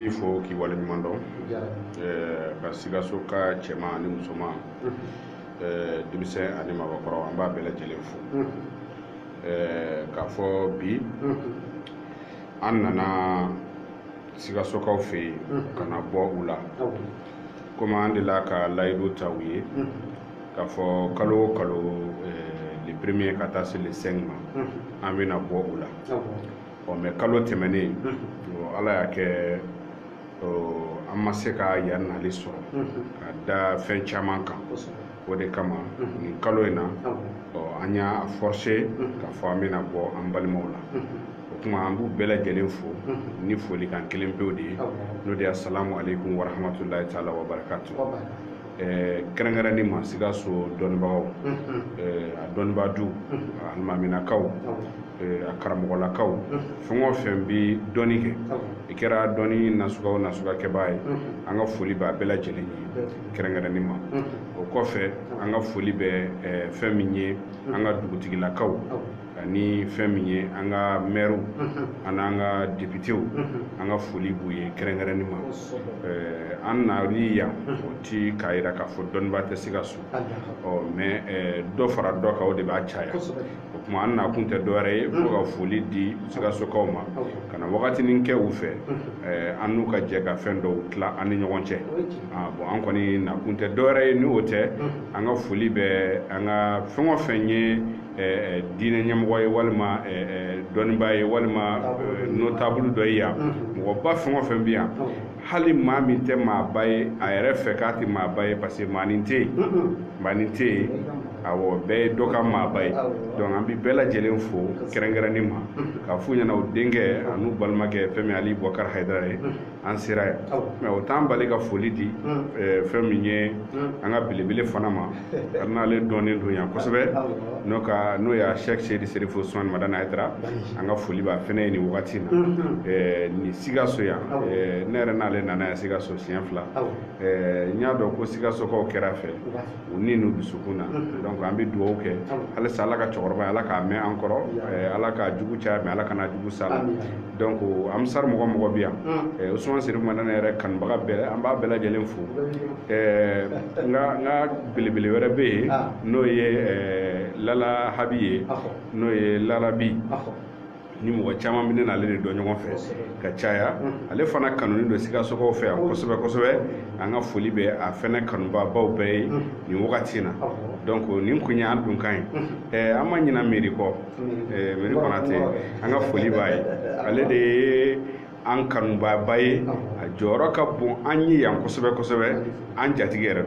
i fo k'i waleɲuman dɔn ka sikasoka cɛman ani musoman denmisɛn ani maabakɔrɔ an b'a bɛɛ lajɛlen fo k'a fɔ bi an nana sikasokaw fɛ yen ka na bɔ u la komi an delila ka layidu ta u ye k'a fɔ kalo o kalo le premier ka taa se le 5 ma an bɛna bɔ u la ɔ mɛ kalo tɛmɛnen ala y'a kɛ an ma se ka yan nali sɔrɔ ka da fɛn caman kan o de kama nin kalo in na an y'a forse k'a fɔ an bɛna bɔ an balimaw la o kuma an b'u bɛɛ lajɛlen fo ni folikan kelen pewu de ye n'o de ye asalamu aleykum warahamatulayi taala wabarakatu eh, kɛrɛnkɛrɛnni ma sikaso dɔnnibagaw eh, a dɔnnibaadu a alimaminakaw eh, a karamɔgɔlakaw fɛn o fɛn bɛ dɔnni kɛ i kɛra dɔnni nasuga o nasuga kɛbaa ye an ka foli b'a bɛɛ lajɛlen ye kɛrɛnkɛrɛnni ma o kɔfɛ an ka foli bɛ eh, fɛn min ye an ka dugutigilakaw ni fɛn min ye an ka mɛriw ani an ka depitew an ka foli b'u ye kɛrɛnkɛrɛnni ma an nani yan o ti k'a yira k'a fɔ dɔnnibaa tɛ sikaso mɛ dɔ fara dɔ kan o de b'a caya o kuma an nakun tɛ dɔwɛrɛ ye fo ka foli di sikasokaw ma ka na wagatinin kɛ u fɛ an n'u ka jɛ ka fɛn dɔw tila an ni ɲɔgɔn cɛ bon an kɔni nakun tɛ dɔwɛrɛ ye ni o tɛ an ka foli bɛ an ka fɛn o fɛn ye Eh, diinɛ ɲɛmɔgɔ ye walima eh, eh, dɔnnibaa ye walima notable dɔ ye yan mm-hmm. mɔgɔba fɛn o fɛn bɛ yan mm-hmm. hali maa min tɛ maaba ye a yɛrɛ fɛ k'a tɛ maaba ye parce que maanin tɛ yen mm-hmm. maanin tɛ yen awɔ bɛɛ ye dɔ ka maaba ye donc an bɛ bɛɛ lajɛlen fo kɛrɛnkɛrɛnnen ma k'a f'u ɲɛna u denkɛ an'u balimakɛ fɛn min ali bukari hayidara ye an sera yan mɛ o t'an bali ka foli di fɛn min ye an ka belebele fana ma hali n'ale dɔnnen don yan kosɛbɛ n'o ka n'o ye asɛki seyidi serifu usumani madani hayidara an ka foli b'a fɛnɛ ye nin wagati na nin sikaso yan ne yɛrɛ n'ale nana yan sikaso siɲɛ fila n y'a dɔn ko sikasokaw kɛr'a fɛ u ni n'u dusukun na donc an bɛ dugawu kɛ halisa ala k'a cɛkɔrɔbaya ala k'a mɛn an kɔrɔ eh, ala k'a jugu caya mɛ ala kana jugu s'a la donc ansari mɔgɔ o mɔgɔ bɛ yan eh, usumani serifu madani yɛrɛ kanubaga bɛɛ an b'a bɛɛ lajɛlen fo eh, n ka n ka belebele wɛrɛ bɛ yen ah. n'o ye lala habi ye n'o ye lalabi ni mɔgɔ caman bɛ ne n'ale de dɔn ɲɔgɔn fɛ ka caya ale fana kanunen don sikasokaw fɛ yan kosɛbɛ kosɛbɛ an ka foli bɛ a fɛnɛ kanubaabaw bɛɛ ye nin wagati na donc nin kun ye an donkan ye ɛɛ an ma ɲina miiri kɔ miiri konate an ka foli b'a ye ale de ye an kanubaaba ye a jɔyɔrɔ ka bon an ye yan kosɛbɛ kosɛbɛ an jatigi yɛrɛ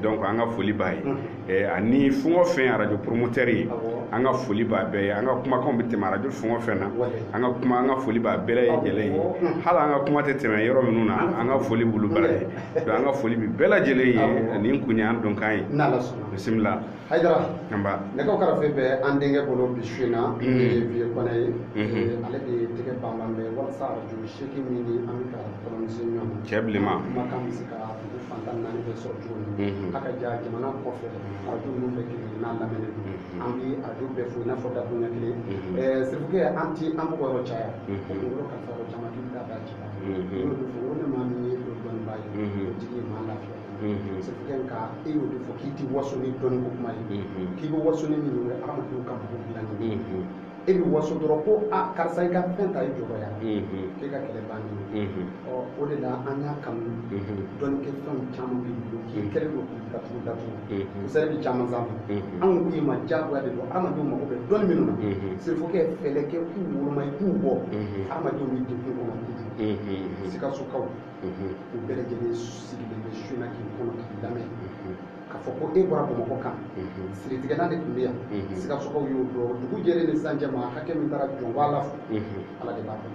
don donc an ka foli b'a ye eh, ani fɛn o fɛn arajo promoteur ye an ka foli b'a bɛɛ ye an ka kumakanw bɛ tɛmɛ arajo fɛn o fɛn na an ka foli b'a bɛɛ lajɛlen ye hali an ka kuma tɛ tɛmɛ yɔrɔ minnu na an ka foli b'olu bɛɛ ye donc an ka foli bi bɛɛ lajɛlen ye nin kun ye an donkan ye bisimila Hayidara, anba, nɛgɛw karafe bɛ an denkɛ bolo bi su in na, unhun, n'o ye Vieux Kɔnɛ ye, unhun, ale de tɛgɛ banban bɛ walasa arajo seegin min ni an bɛ ka kɔlɔnsen ɲɔgɔn na, cɛ bilenman, kumakan bɛ se ka dugu fan tan ni naani bɛɛ sɔrɔ cogo min, unhun, a ka ja jamana kɔfɛ arajo ninnu bɛɛ kelen-kelen n'a lamɛnnen don, unhun, an bɛ arajo bɛɛ fo i n'a fɔ dakuruɲɛ kelen, unhun, ɛɛ Serifukɛ an tɛ an mɔgɔ yɔrɔ caya, unhun, o kunkolo kalifa yɔrɔ caman k'i bɛ taa da a ci la, unhun, ne y'o de fɔ n ko ni maa min ye o dɔnnibaa ye, unhun, o tigi ye maa lafiya ye. Serifukɛ nka e y'o de fɔ k'i tɛ waso ni dɔnni ko kuma ye k'i bɛ waso ni min ye adamadenw ka mago dilanni ye e bɛ waso dɔrɔn ko a karisa i ka fɛn ta i jɔrɔ yan k'e ka kɛlɛ bannen o de la an y'a kanu dɔnni kɛ fɛnw caman b'i bolo k'i kɛlen don k'u datugu misali bɛ caman sanfɛ anw k'i ma diyagoya de don adamadenw mago bɛ dɔnni minnu na Serifukɛ fɛɛrɛ kɛ k'u woloma i k'u bɔ adamadenw bɛ degun kɔnɔ kojugu sikasokaw u bɛɛ lajɛlen sigilen bɛ su in na k'i kɔnɔ k'i lamɛn k'a fɔ ko e bɔra bamakɔ ka na siritigɛlan de tun bɛ yan sikasokaw y'o dɔn dugu jɛlen ni sisan cɛ maa hakɛ min taara jɔnba la fo ala de b'a dɔn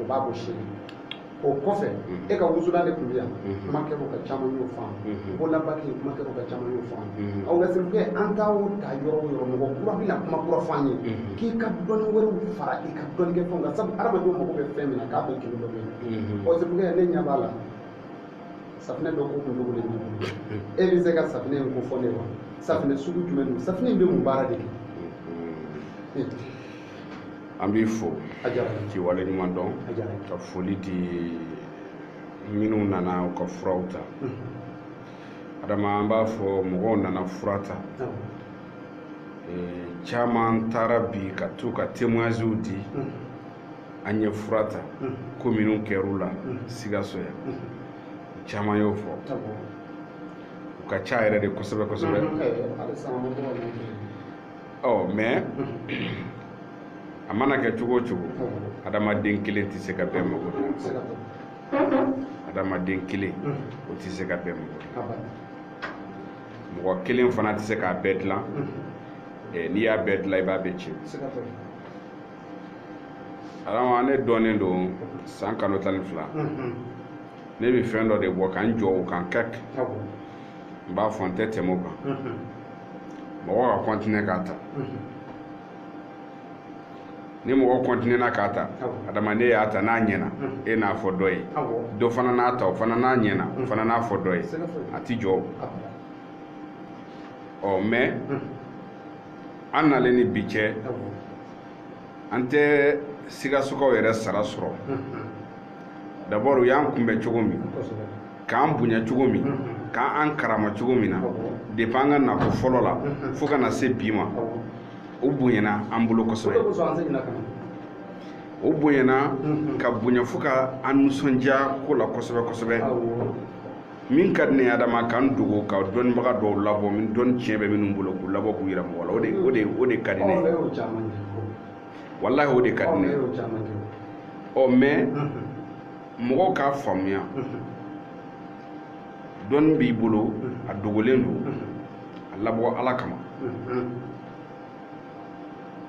o b'a bɔ seere o kɔfɛ e ka wusulan de tun bɛ yan kuma kɛra o kan caman y'o faamu bololabaki kuma kɛra o kan caman y'o faamu nka Serifukɛ an ka taa yɔrɔ o yɔrɔ mɔgɔ kura bɛna kuma kura fɔ an ye k'i ka dɔnni wɛrɛw fara i ka dɔnnikɛ fɛnw kan sabu hadamadenw mago bɛ fɛn min na k'a bɛɛ kelen dɔ bɛ yen ɔ Serifukɛ ne ɲɛ b'a la safinɛ dɔ ko kun dogolen b'i bolo e bɛ se ka safinɛ in ko fɔ n ye wa safinɛ sugu jumɛn don safinɛ in bɛ mun baara de kɛ an b'i fo a diyara n ye k'i waleɲuman dɔn a diyara n ye ka foli di minnu nana u ka furaw ta adama an b'a fɔ mɔgɔw nana fura ta awɔ Eh, caman taara bi ka to ka témoignages di an ye fura ta ko minnu kɛr'u la sikaso yan u caman y'o fɔ u ka ca yɛrɛ de kosɛbɛ kosɛbɛ ɔ mais a mana kɛ cogo o cogo adamaden kelen tɛ se ka bɛɛ mago dilan adamaden kelen o tɛ se ka bɛɛ mago dilan mɔgɔ kelen fana tɛ se k'a bɛɛ dilan n'i y'a bɛɛ dilan i b'a bɛɛ tiɲɛ adama ne dɔnnen don san kalo tan ni fila ne bɛ fɛn dɔ de bɔ ka n jɔ o kan kɛk n b'a fɔ n tɛ tɛmɛ o kan mɔgɔ ka kɔntine k'a ta ni mɔgɔ kɔntinena k'a ta adama n'e y'a ta n'a ɲɛna e n'a fɔ dɔ ye dɔ fana n'a ta o fana n'a ɲɛna o fana n'a fɔ dɔ ye a ti jɔ o ɔ mɛ an nalen ni bi cɛ an tɛ sikasokaw yɛrɛ sara sɔrɔ dabɔr u y'an kunbɛn cogo min k'an bonya cogo min k'an karama cogo min na depi an ka nako fɔlɔ la fo ka na se bi ma o bonyana an bolo kosɛbɛ o bonyana ka bonya fo ka an nisɔndiya ko la kosɛbɛ kosɛbɛ min ka di ne ye adama ka n dogo ka dɔnnibaga dɔw labɔ min dɔnni tiɲɛ bɛ minnu bolo k'u labɔ k'u yira mɔgɔ la o de ka di ne ye walahi o de ka di ne ye ɔ mɛ mɔgɔw k'a faamuya dɔnni b'i bolo a dogolen don a labɔ ala kama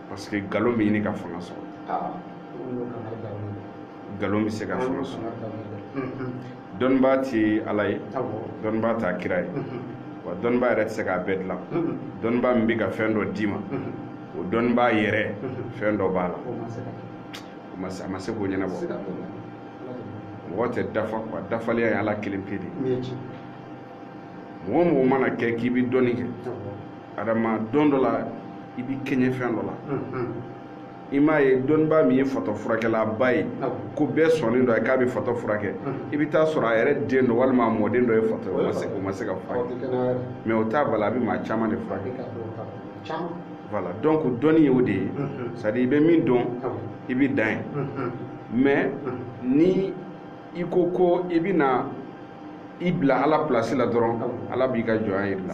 parce que nkalon bɛ ɲini ka fanga sɔrɔ nkalon bɛ se ka fanga sɔrɔ dɔnnibaa tɛ ala ye dɔnnibaa t'a kira ye wa dɔnnibaa yɛrɛ tɛ se k'a bɛɛ dilan dɔnnibaa min bɛ ka fɛn dɔ d'i ma o dɔnnibaa yɛrɛ fɛn dɔ b'a la a ma se k'o ɲɛnabɔ mɔgɔ tɛ dafa kuwa dafaliya ye ala kelen pe de mɔgɔ mɔgɔ mana kɛ k'i bɛ dɔnni kɛ adama don dɔ la i bɛ kɛɲɛ fɛn dɔ la i m'a ye dɔnnibaa min ye fatɔ furakɛlaba ye ko bɛɛ sɔnnen don a ye k'a bɛ fatɔ furakɛ i bɛ taa sɔrɔ a yɛrɛ den dɔ walima a mɔden dɔ ye fatɔ ye o ma se k'a furakɛ mɛ o t'a bala a bɛ maa caman de furakɛ voilà donc dɔnni ye o de ye c'est à dire i bɛ min dɔn i bɛ dan yen mɛ ni i ko ko i bɛna i bila ala pilasi la dɔrɔn ala b'i ka jɔnya jir'i la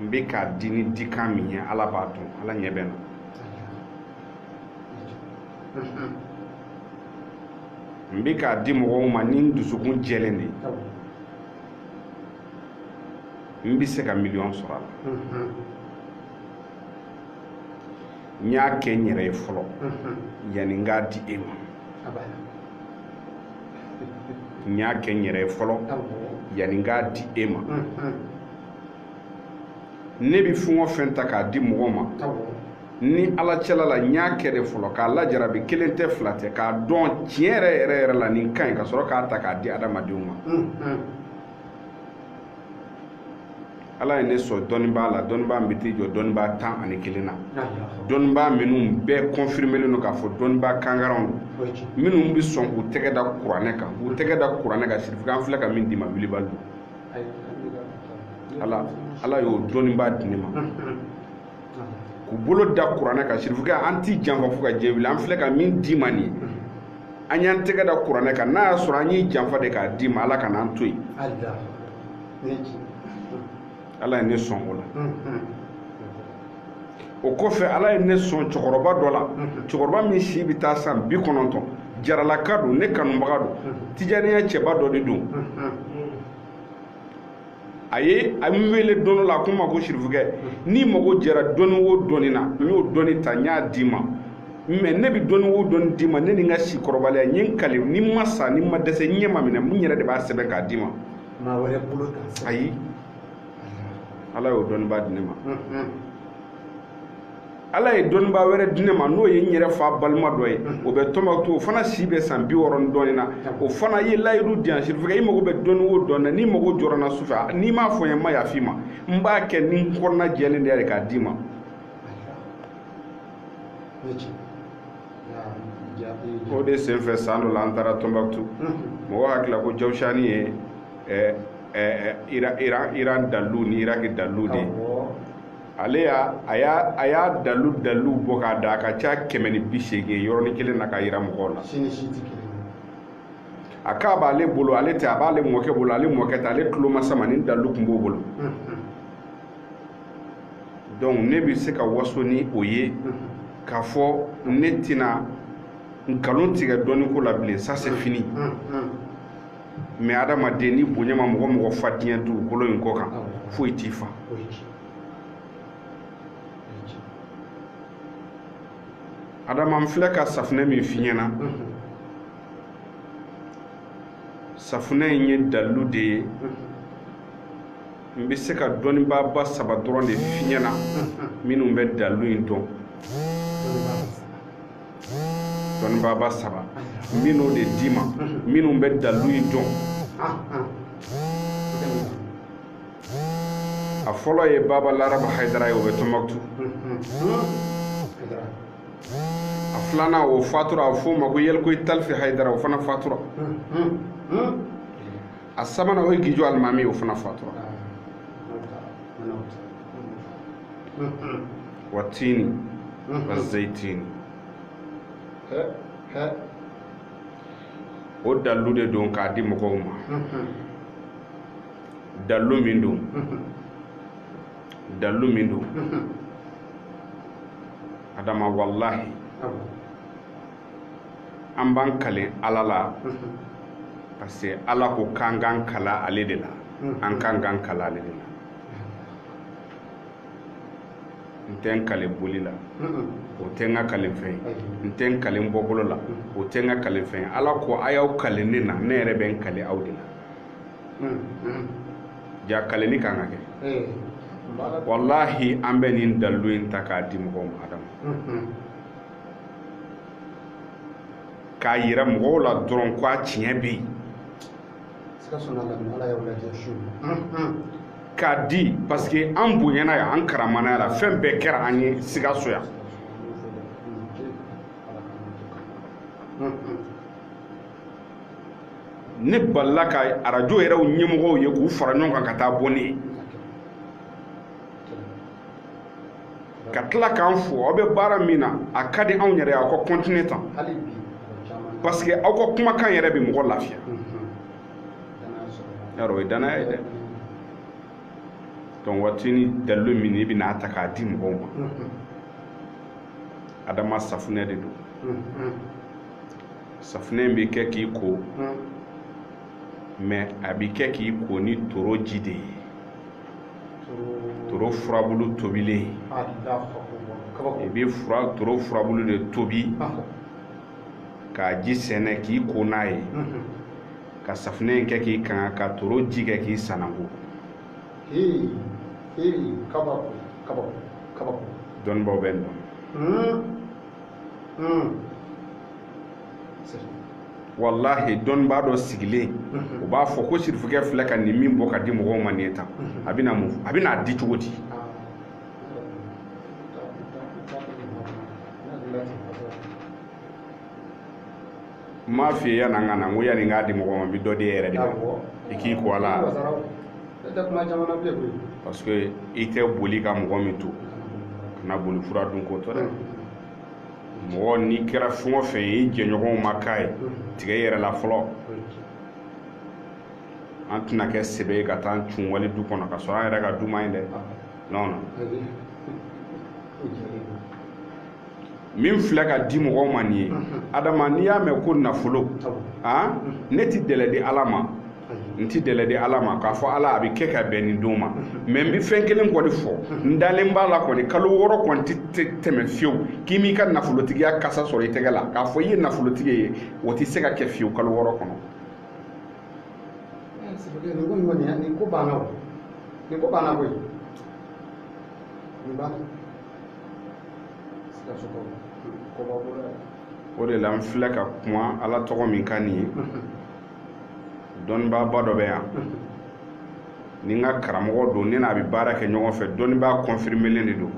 n bɛ k'a di ni dikan min ye ala b'a dɔn ala ɲɛ bɛ n na n bɛ k'a di mɔgɔw ma ni n dusukun jɛlen de ye n bɛ se ka miliyɔn sɔrɔ a la n y'a kɛ n yɛrɛ ye fɔlɔ yanni n k'a di e ma n y'a kɛ n yɛrɛ fɔlɔ yanni n k'a di e ma ne bɛ fɛn o fɛn ta k'a di mɔgɔ ma ni ala cɛla la n y'a kɛ de fɔlɔ k'a lajarabi kelen tɛ fila tɛ k'a dɔn tiɲɛ yɛrɛ yɛrɛ yɛrɛ la nin ka ɲi ka sɔrɔ k'a ta k'a di adamadenw ma ala ye ne sɔn dɔnnibaa la dɔnnibaa bɛ t'i jɔ dɔnnibaa tan ani kelen na dɔnnibaa minnu bɛɛ kɔnfirimelen don k'a fɔ dɔnnibaa kankaranw don minnu bɛ sɔn k'u tɛgɛ da kuranɛ kan k'u tɛgɛ da kuranɛ kan sirifukɛ an filɛ ka min d'i ma wilibali don ala ala y'o dɔnnibaa di ne ma k'u bolo da kuranɛ kan sirifukɛ an t'i janfa fo ka diɲɛ wuli an filɛ ka min d'i ma nin ye an y'an tɛgɛ da kuranɛ kan n'a y'a sɔrɔ an y'i janfa de k'a d'i ma ala kan'an to yen ala ye ne sɔn o la o kɔfɛ ala ye ne sɔn cɛkɔrɔba dɔ la cɛkɔrɔba min si bɛ taa san bi kɔnɔntɔn jaralaka don ne kanubaga don tijaniya cɛba dɔ de don a ye n wele don dɔ la a ko n ma ko sirifukɛ n'i mago jɛra dɔnni o dɔnni na n y'o dɔnni ta n y'a d'i ma mais ne bɛ dɔnni o dɔnni d'i ma ne ni n ka si kɔrɔbaliya n ye n kali ni n ma sa ni n ma dɛsɛ n ɲɛ ma minɛ n yɛrɛ de b'a sɛbɛn k'a d'i ma maa wɛrɛ bolo kan sa ayi ala y'o dɔnnibaa di ne ma ala ye dɔnnibaa wɛrɛ di ne ma n'o ye n yɛrɛ fa balima dɔ ye o bɛ tɔnbɔkutu o fana si bɛ san bi wɔɔrɔ ni dɔɔnin na o fana ye layidu di yan sirifukɛ i mago bɛ dɔnni o dɔnni na n'i mago jɔra n na su fɛ n'i m'a fɔ n ye n ma yafa i ma n b'a kɛ ni n kɔnɔna jɛlen de ye k'a d'i ma o de senfɛ san dɔ la an taara tɔnbɔkutu mɔgɔ hakili la ko jawusani ye iran dalilu ni iraki dalilu de ye ale y'a a y'a a y'a dalilu dalilu bɔ k'a da a ka ca kɛmɛ ni bi seegin yɔrɔnin kelen na k'a yira mɔgɔw la a k'a b'ale bolo ale tɛ a b'ale mɔkɛ bolo ale mɔkɛ tɛ ale tulomasama nin dalilu tun b'o bolo donc ne bɛ se ka waso ni o ye k'a fɔ ne tɛna nkalon tigɛ dɔnni ko la bilen ça c'est fini mais adamaden ni bonya ma mɔgɔ o mɔgɔ fa diɲɛ dugukolo in kɔ kan foyi t'i fa adama n filɛ ka safunɛ min f'i ɲɛna safunɛ in ye dalilu de ye n bɛ se ka dɔnnibaaba saba dɔrɔn de f'i ɲɛna minnu bɛ dalilu in dɔn dɔnnibaaba saba minnu de d'i ma minnu bɛ dalilu in dɔn a fɔlɔ ye baba larabu hayidara ye o bɛ tɔnbɔkutu a filanan o fatura a f'o ma ko yɛlɛkoyi talifi hayidara o fana fatura a sabanan o ye gijo alimami o fana fatura wa tini wa zeyitini o dalilu de don k'a di mɔgɔw ma dalilu min don dalilu min don adama walahi an b'an kalen ala la parce que ala ko k'an k'an kale ale de la an k'an k'an kale ale de la n tɛ n kale boli la o tɛ n ka kalen fɛn ye n tɛ n kalen bɔkolo la o tɛ n ka kalen fɛn ye ala ko a y'aw kale ne na ne yɛrɛ bɛ n kale aw de la jaa kalenni kan ka kɛ walahi an bɛ nin dalilu in ta k'a di mɔgɔw ma adama k'a yira mɔgɔw la dɔrɔn ko a tiɲɛ bɛ yen k'a di parce que an bonyana yan an karamana yan fɛn bɛɛ kɛra an ye sikaso yan ne balila ka arajo yɛrɛw ɲɛmɔgɔw ye k'u fara ɲɔgɔn kan ka taa bɔ ne ye ka tila k'an fo aw bɛ baara min na a ka di anw yɛrɛ aw ka kɔntine tan parce que aw ka kumakan yɛrɛ bɛ mɔgɔ lafiya yarɔ o ye danaya ye dɛ donc wa tini dalilu min n bɛna a ta k'a di mɔgɔw ma adama safunɛ de don safunɛ in bɛ kɛ k'i ko mais a bɛ kɛ k'i ko ni toro ji de ye toro furabulu tobilen i bɛ fura toro furabulu de tobi k'a ji sɛnɛ k'i ko n'a ye mhm. ka safunɛ in kɛ k'i kanga ka toro ji kɛ k'i sananko dɔnnibaaw bɛ n dɔn hmm. Hmm. walahi dɔnnibaa dɔ sigilen o b'a fɔ ko sirifukɛ filɛ ka nin min bɔ ka di mɔgɔw ma nin ye tan a bɛna mun a bɛna a di cogo di n m'a f'i ye yanni an ka na n ko yanni n k'a di mɔgɔ ma n bɛ dɔ di e yɛrɛ de ma i k'i ko a la parce que i tɛ boli ka mɔgɔ min to kana boli fura dun ko tɔ dɛ mɔgɔ n'i kɛra fɛn o fɛn ye i jɛɲɔgɔnw ma k'a ye tigɛ i yɛrɛ la fɔlɔ an tɛna kɛ sebe ye ka taa an cun wali du kɔnɔ ka sɔrɔ an yɛrɛ ka du man ɲi dɛ non non min filɛ ka di mɔgɔw ma nin ye adama n'i y'a mɛn ko nafolo ne ti dɛlɛ di ala ma n ti dɛlɛ di ala ma k'a fɔ ala a bɛ kɛ ka bɛn nin don ma mɛ n bɛ fɛn kelen kɔni fɔ n dalen b'a la kɔni kalo wɔɔrɔ kɔni tɛ tɛmɛ fiyewu k'i m'i ka nafolotigiya kasa sɔrɔ i tɛgɛ la k'a fɔ i ye nafolotigi ye o tɛ se ka kɛ fiyewu kalo wɔɔrɔ kɔnɔ nin ko banna o nin ko banna koyi nin banna sikaso kɔba bolo o de la n filɛ ka kuma ala tɔgɔ min kan nin ye dɔnnibaaba dɔ bɛ yan ni n ka karamɔgɔ don ne n'a bɛ baara kɛ ɲɔgɔn fɛ dɔnnibaa kɔnfirimelen de don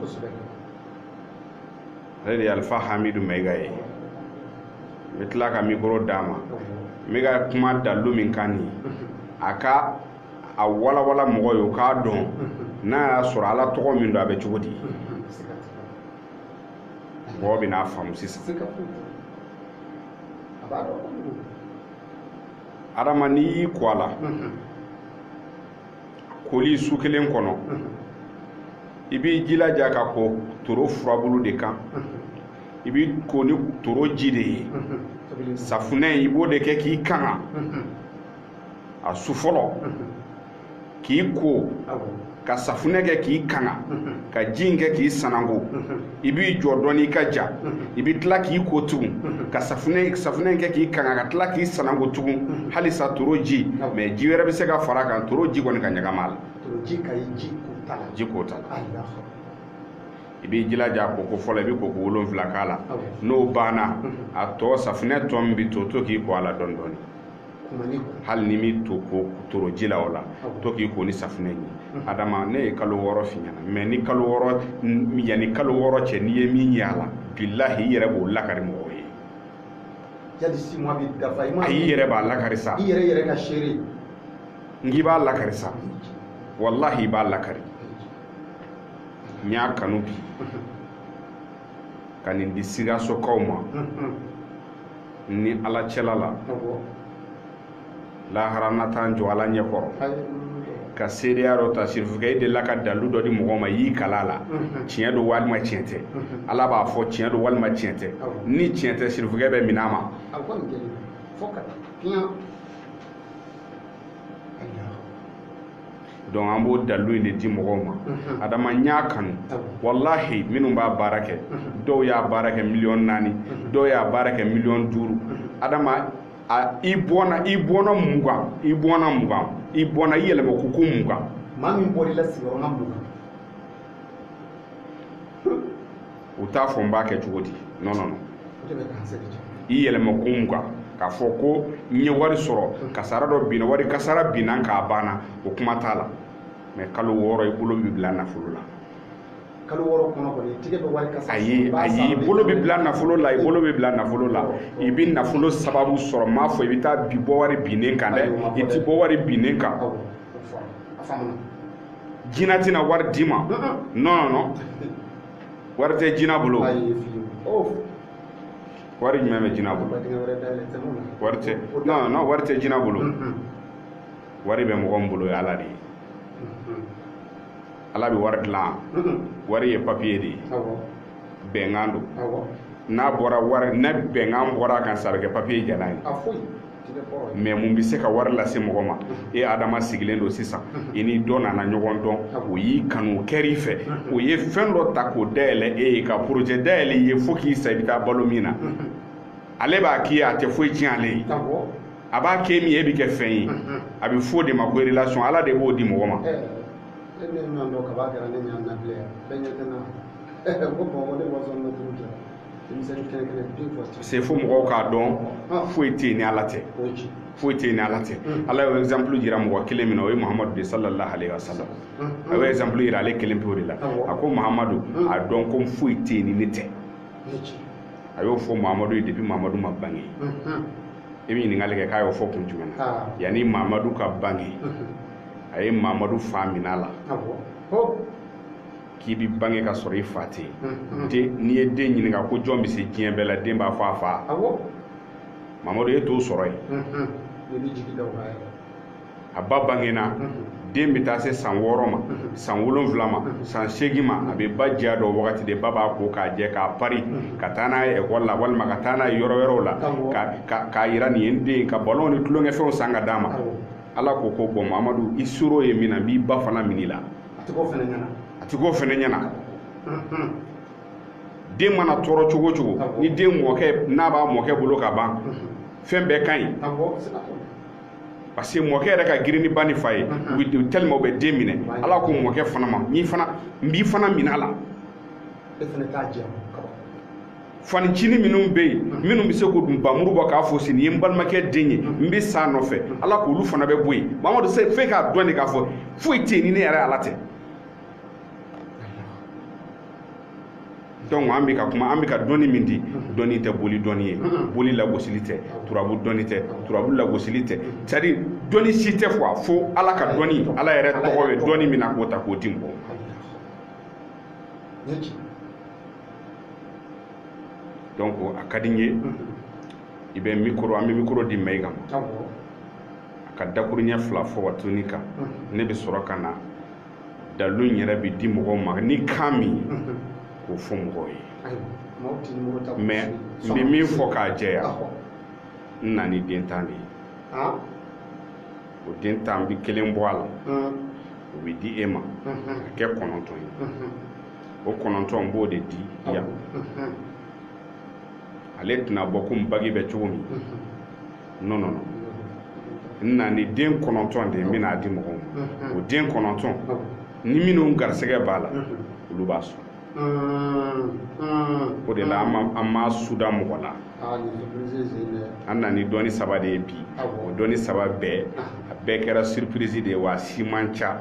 ale de ye alifa hamidu mayiga ye n bɛ tila ka mikoro d'a ma n bɛ ka kuma dalilu min kan nin a ka a walawala mɔgɔ ye o k'a dɔn n'a y'a sɔrɔ ala tɔgɔ min don a bɛ cogo di mɔgɔ bɛn'a faamu sisan a b'a dɔn adama n'i y'i ko a la koli su kelen kɔnɔ i b'i jilaja ka ko toro furabulu de kan i b'i ko ni toro ji de ye safunɛ i b'o de kɛ k'i kanga a su fɔlɔ k'i ko ka safunɛ kɛ k'i kanga ka ji in kɛ k'i sananko i b'i jɔ dɔɔni i ka ja i bɛ tila k'i ko tugun ka safunɛ in kɛ k'i kanga ka tila k'i sananko tugun halisa toro ji mɛ ji wɛrɛ bɛ se ka fara a kan toro ji kɔni ka ɲagami a la ji ko ta la i b'i jilaja a koko fɔlɔ i bɛ koko wolonfila k'a la n'o banna a tɔ safunɛ tɔ min bɛ to to k'i ko a la dɔɔni dɔɔni hali n'i m'i to ko toro ji la o la to k'i ko ni safunɛ ye mm-hmm. adama ne ye kalo wɔɔrɔ f'i ɲɛna mɛ ni kalo wɔɔrɔ yanni kalo wɔɔrɔ cɛ n'i ye min ye a la bilahi i yɛrɛ b'o lakari mɔgɔw ye yali six mois bi dafa i ma ayi i yɛrɛ b'a lakari sa i yɛrɛ yɛrɛ ka seere n k'i b'a lakari sa walahi i b'a lakari n y'a kanu bi mm-hmm. ka nin di sikasokaw ma ni ala cɛla la lahara na taa n jɔ ala ɲɛkɔrɔ ka seereya dɔ ta sirifukɛ i delila ka dalilu dɔ di mɔgɔ ma y'i kali a la tiɲɛ don walima tiɲɛ tɛ ala b'a fɔ tiɲɛ don walima tiɲɛ tɛ ni tiɲɛ tɛ sirifukɛ bɛ minɛ a ma donc an b'o dalilu in de di mɔgɔw ma mhm. adama n y'a kanu walahi minnu b'a baara kɛ mhm. dɔw y'a baara kɛ miliyɔn naani mhm. dɔw y'a baara kɛ miliyɔn duuru adama i bɔna i bɔna mugan i bɔna mugan i bɔna i yɛlɛma kuku mugan maa min bɔr'i la sigiyɔrɔma mugan u t'a fɔ n b'a kɛ cogo di non non non i yɛlɛma ko mugan k'a fɔ ko n ye wari sɔrɔ kasara dɔ binna wari kasara binna k'a banna o kuma t'a la mais kalo wɔɔrɔ i bolo bɛ bila nafolo la kalo wɔɔrɔ kɔnɔ ko n'i tigɛ bɛ wari kan sa ayi ayi i bolo bɛ bila nafolo la i bolo bɛ bila nafolo la i bɛ nafolo sababu sɔrɔ n m'a fɔ i bɛ taa bi bɔ wari binnen kan dɛ i ti bɔ wari binnen kan jina tɛna wari d'i ma non non non wari tɛ jina bolo wari jumɛn bɛ jina bolo wari tɛ non non wari tɛ jina bolo wari bɛ mɔgɔ min bolo ye ala de ye ala bɛ wari dilan wari ye papiye de ye bɛnkan don n'a bɔra wari ni bɛnkan bɔra a kan sa a bɛ kɛ papiye jalan ye mais mun bɛ se ka wari lase mɔgɔ ma e adama sigilen don sisan i ni dɔ nana ɲɔgɔn dɔn o y'i kanu kɛr'i fɛ o ye fɛn dɔ ta k'o dayɛlɛ e ye ka projet dayɛlɛ i ye fo k'i sa i bɛ taa balo min na ale b'a k'i ye a tɛ foyi tiɲɛ ale ye a b'a kɛ min ye e bɛ kɛ fɛn ye a bɛ fɔ o de ma ko relation ala de b'o di mɔgɔ ma c'est fo mɔgɔw k'a dɔn ah. foyi tɛ yen ni ala tɛ foyi tɛ yen ni ala tɛ hmm. ala ye exemple jira mɔgɔ kelen min na o ye mahamadu de sallallahu alaihi wa sallam hmm. a bɛ exemple jira ale kelen pewu de la a ko mahamadu hmm. a dɔn ko foyi tɛ yen ni ne tɛ a y'o fɔ mahamadu ye depuis mahamadu ma bange i bɛ ɲininkali kɛ k'a y'o fɔ kun jumɛn na ah. yanni mahamadu ka bange a ye mahamadu fa minɛ a la k'i bi bange ka sɔrɔ i fa tɛ yen n'i ye den ɲininka ko jɔn bɛ se diɲɛ bɛɛ la den b'a fɔ a fa mamadu e t'o sɔrɔ yen a ba bangena den bɛ taa se san wɔɔrɔ ma san wolonwula ma san seegin ma a bɛ ba diya dɔn wagati de ba b'a ko k'a jɛ k'a pari ka taa n'a ye ekɔli la walima ka taa n'a ye yɔrɔ wɛrɛw la k'a yira nin ye n den ka balon ni tulonkɛfɛnw san ka d'a ma ala ko ko bon mamadu i soro ye min na n b'i ba fana minɛ i la a tɛ k'o fana ɲɛna a tɛ k'o fana ɲɛna den mana tɔɔrɔ cogo o cogo ni den mɔkɛ n'a b'a mɔkɛ bolo ka ban fɛn bɛɛ ka ɲi parce que mɔkɛ yɛrɛ ka girin ni ba ni fa ye tellement u bɛ den minɛ ala ko mɔkɛ fana ma n'i fana n b'i fana minɛ a la e fanincinin minnu bɛ yen minnu bɛ se k'o dun bamuru bɔ k'a fɔ si nin ye n balimakɛ den ye n bɛ sa a nɔfɛ ala k'olu fana bɛ bɔ yen mamadu c'est f'e k'a dɔn de k'a fɔ foyi tɛ yen ni ne yɛrɛ ala tɛ donc an bɛ ka kuma an bɛ ka dɔnni min di dɔnni tɛ boli dɔnni ye boli lagosili tɛ turabu dɔnni tɛ turabu lagosili tɛ c'est à dire dɔnni si tɛ quoi fo ala ka dɔnni ala yɛrɛ tɔgɔ bɛ dɔnni min na k'o ta k'o di mɔgɔw ma donc a ka di n ye i bɛ mikoro an bɛ mikoro di mayiga ma a ka dakuruɲɛ fila fɔ wa tini kan ne bɛ sɔrɔ ka na dalu in yɛrɛ bɛ di mɔgɔw ma ni kan min k'o fɔ mɔgɔw ye mɛ n bɛ min fɔ k'a jɛya n na ni den tan de ye o den tan bɛ kelen bɔ a la o bɛ di e ma a kɛ kɔnɔntɔn ye o kɔnɔntɔn n b'o de di yan ale tɛna bɔ komi bagi bɛ cogo min non non n na ni den kɔnɔntɔn de ye n bɛna a di mɔgɔw ma o den kɔnɔntɔn ni minnu garisɛgɛ b'a la olu b'a sɔrɔ o de la an ma suda mɔgɔ la an na ni dɔnni saba de ye bi o dɔnni saba bɛɛ a bɛɛ kɛra surprise de ye wa a si man ca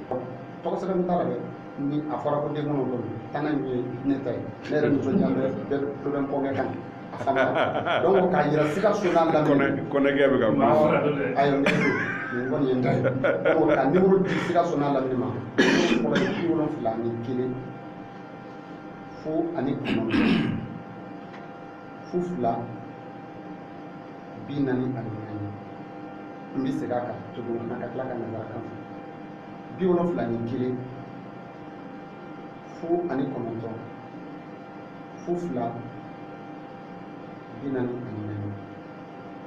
tɔgɔ sɛbɛn t'a la dɛ ni a fɔra ko den kɔnɔntɔn tannan ye ne ta ye ne yɛrɛ nisɔndiya bɛ bɛ poroblɛm kɔnɛkɛ kan a fana donc k'a yira sikaso n'a lamini kɔnɛkɛ bɛ ka kuma ayi ne don nin kɔni ye n ta ye donc ka nimoro di sikaso n'a lamini ma fɔlɔ ye bi wolonfila ni kelen fu ani kɔnɔntɔn fu fila bi naani ani naani n bɛ segin a kan tuguni ka tila ka nanzarakan fɔ bi wolonfila ni kelen fu ani kɔnɔntɔn fu fila bi naani ani naani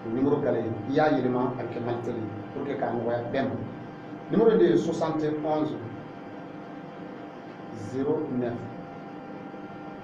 o nimoro gale i y'a yɛlɛma a bɛ kɛ malitɛli pour que k'a nɔgɔya bɛɛ ma nimoro de ye 71 09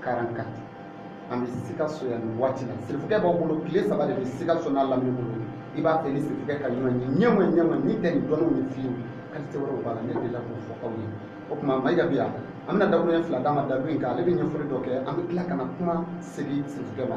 44 an bɛ sikaso yan nin waati la sirifukɛ b'aw bolo tile saba de bɛ sikaso n'a lamini bolo i b'a fɛ ni sirifukɛ ka ɲɔgɔn ye ɲɛma ɲɛma ni tɛ nin dɔnniw ye fiyewu kalite wɛrɛw b'a la ne delila k'o fɔ aw ye o tuma mayiga bi yan an bɛna dakuruɲɛ fila d'a ma dalu in kan ale bɛ ɲɛfɔli dɔ kɛ an bɛ tila ka na kuma segin sirifukɛ ma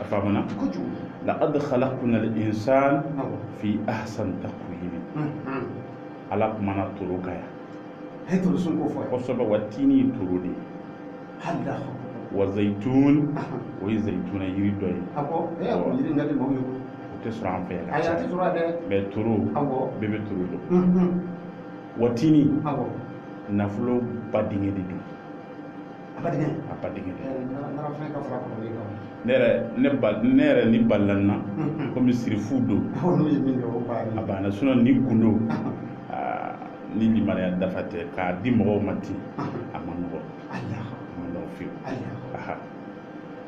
a faamuna kojugu laqad khalaqna al-insan awɔ fi ahsan taqwim unhun ala kumana toro kan yan a ye torosun ko fɔ kosɛbɛ wa tini ye toro de ye hada wa zayitun o ye zayituna yiri dɔ ye a ko e y'a ko yiri ŋa di maaw ye o tɛ sɔrɔ an fɛ yan ka ayi a caya tɛ sɔrɔ yan dɛ mɛ toro awɔ bɛɛ bɛ toro dɔn unhun wa tini awɔ nafolo ba dingɛ de don a ba dingɛ a ba dingɛ narafɛn ka fara kɔrɔlen kan ne yɛrɛ ne ba ne yɛrɛ ni balala n na komi sirifu don n'u ye min kɛ o banna a banna sinɔn ni gundo ni limaniya dafa tɛ k'a di mɔgɔw ma ten a ma nɔgɔ a ma nɔgɔ fiyewu